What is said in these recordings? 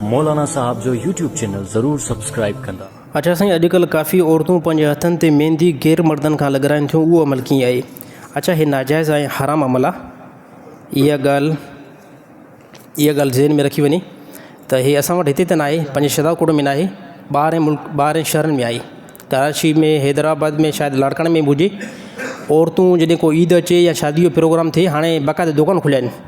مولانا صاحب جو YouTube channel ضرور سبسڪرائب ڪندا. اچا سائين اڄ ڪلھ ڪافي عورتون پنهنجي هٿن تي ميندي غير مردن کان لڳرائين ٿيون اهو عمل ڪيئن آهي اچا هي ناجائز ۽ حرام عمل آهي اها ڳالھ اها ڳالھ ذهن ۾ رکي وڃي ته هي اسان وٽ هتي ته ناهي پنهنجي شهداڪوٽ ۾ ناهي ٻاهرين ملڪ ٻاهرين شهرن ۾ آهي ڪراچي ۾ حيدرآباد ۾ شايد لاڙڪاڻي ۾ به هجي عورتون جڏهن ڪو عيد اچي يا شادي جو پروگرام ٿئي هاڻي باقاعده دوڪان کليا آهن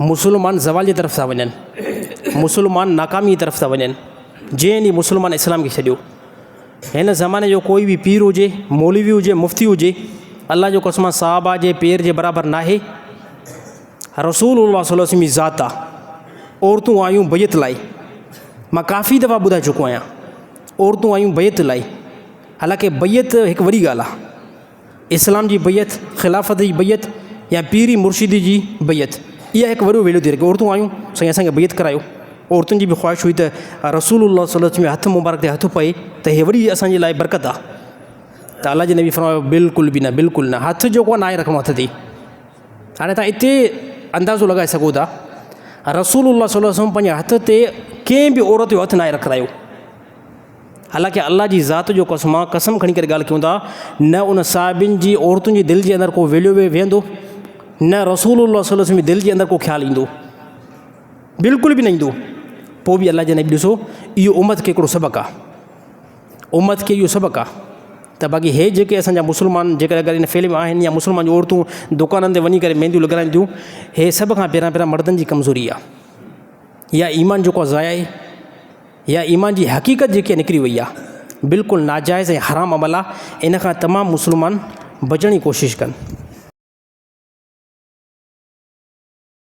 مسلمان زوال جي طرف ٿا وڃن، مسلمان ناڪامي جي طرف ٿا وڃن، جنهن ڏينهن مسلمان اسلام کي ڇڏيو. هن زماني جو ڪوئي به پير هجي، مولوي هجي، مفتي هجي، الله جون قسمان صحابه جي پير جي برابر ناهي. رسول الله صلي الله عليه وسلم جي ذات آهي. عورتون آيون بيعت لاء، مان ڪافي دفعا ٻڌائي چڪو آهيان، عورتون آيون بيعت لاء، حالانڪه بيعت هڪ وڏي ڳالهه آهي. اسلام جي بيعت، خلافت جي بيعت يا پير ۽ مرشد جي بيعت اها هڪ وڏو ويڙهه ٿي رکي عورتون آيون سائين اسان کي بيعت ڪرايو عورتن جي به خواهش هئي ته رسول الله صلي وسلم جي هٿ مبارڪ تي هٿ پئي ته هي وڏي اسان جي لاء برڪت آ ته الله جي نبي فرمايو بلڪل به نه بلڪل نه هٿ جيڪو آ ناهي رکڻو هٿ تي هاڻي تان اتي اندازو لڳائي سگهو ٿا رسول الله صلي وسلم پنهنجي هٿ تي ڪنهن به عورت جو هٿ ناهي رکرايو حالانڪه الله جي ذات جو قسم آ، قسم کڻي ڪري ڳالهه ڪيون ٿا، نه ان صاحبين جي عورتن جي دل جي اندر ڪو ويليو ويهندو، نه رسول الله صلي الله عليه وسلم جي دل جي اندر ڪو خيال ايندو، بلڪل به نه ايندو، پوء به الله جي نبي ڏسو اهو امت کي هڪڙو سبق آ، امت کي اهو سبق آ ته باقي هي جيڪي اسان جا مسلمان جيڪڏهن اگر ان فيلڊ ۾ آهن يا مسلمان جون عورتون دڪانن تي وڃي ڪري مينديون لڳرائين ٿيون، هي سڀ کان پهريان پهريان مردن جي ڪمزوري آ يا ايمان جيڪو آ ضايع آهي. يا ايمان جي حقيقت جيڪي نڪري وئي آ بلڪل ناجائز ۽ حرام عمل آ ان کان تمام مسلمان بچڻ جي ڪوشش ڪن.